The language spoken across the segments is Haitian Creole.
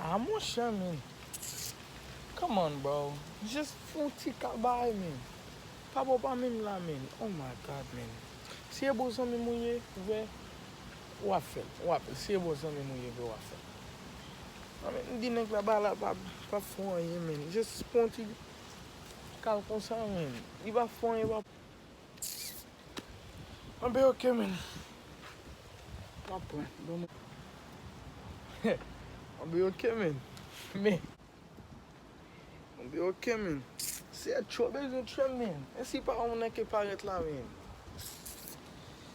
Ah monchè min. Come on bro. Just fout ti kabay min. Pa bo pa minm la min. Oh my God min. Si e bon zanmi m ou ye vre ou ap fè l. Ou ap si e bon zanmi m ou ye vre ou ap fè l. Ah min m di nèg la ba la pa fon anyen min. Just pon ti kal konsa min. Li pa fon anyen pa. Mwen be ok men. Mwen pran. Mwen be ok men. Men. Mwen be ok men. Seyè tro bezwen tchwem men. Ensi pa ou nan ke paret la men.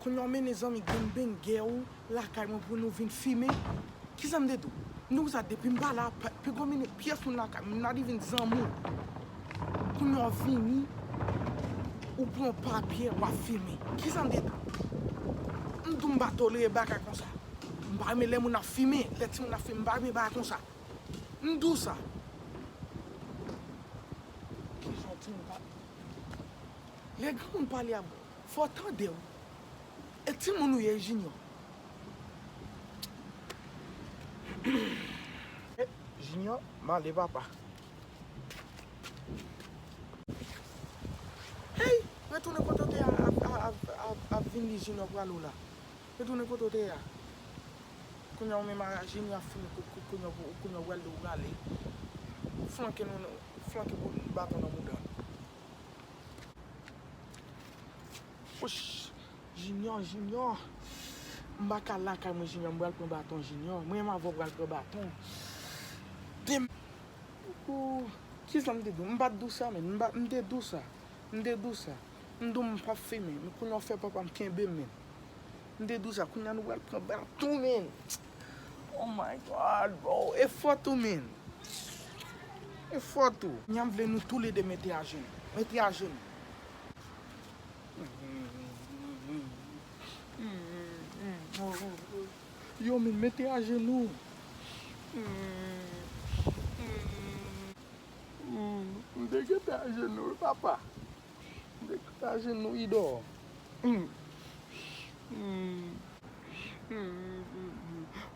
Kounya w mennen zanmi gangbang gè ou lakay mwen pou nou vin fimen? Kisa m te di w? M di w sa depi m pa la, pi gwo mennen pyès moun lakay mwen, m la li vin zanmi w. Kounya w vini, ou pran yon pa byè, w ap fimen. Kisa m te di w? M di w m pa tolere bagay konsa. M pa renmen lè moun ap fimen, lè timoun ap fimen, m pa renmen bagay konsa. M di w sa. Kijan w timoun pa. Lè granmoun pale ak. Fò tandew. E timoun ou ye junior. Junior male papa. Hey retounen kote w te ya ap vin li junior pral ou la retounen kote w te ya kounya ou menm a junior ap fini kout kout kounya ou pral li ou prale flanke nou flanke kout baton nan mouda l. Wouch junior junior m pa ka lakay mwen junior m pral pran baton junior mwen menm avè w pral pran baton demen ooh kisa m te di w m pat di w sa menn m pat m te di w sa m te di w sa m di w m pap fimen men kounya w fè papa m kenbe m menn m te di w sa kounya nou pral pran baton menn. Oh my God bro e fò tou min e fò tou. Nyam vle nou tou le 2 mete ajenou mete ajenou. Yo min mete ajenou. Mte gentan ajenou wi papa. Degaje nou Ido.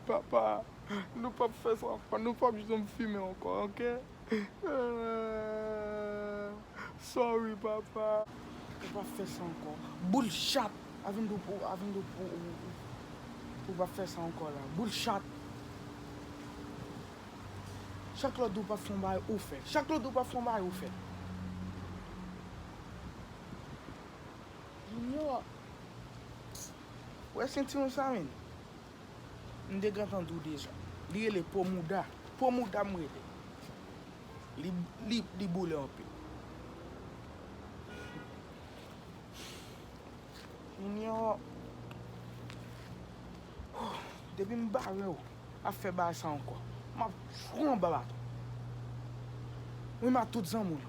Papa nou pap fè sa ankò nou pap janm fimen ankò ok sorry papa. Ou pap fè sa ankò boul chat. Avindou ou pap fè sa ankò la boul chat. Chak lòt di w pa fè yon bagay, ou fè. Chak lòt di w pa fè yon bagay, ou fè. Junior, wè sentiwon sa menm? M te gentan di w deja. Li rele po mouda. Po mouda m rele l. Li boule anpil. Junior, depi m bare w. ap fè baay sa ankò map tjou anba baton wi ma tout zanmi w yo.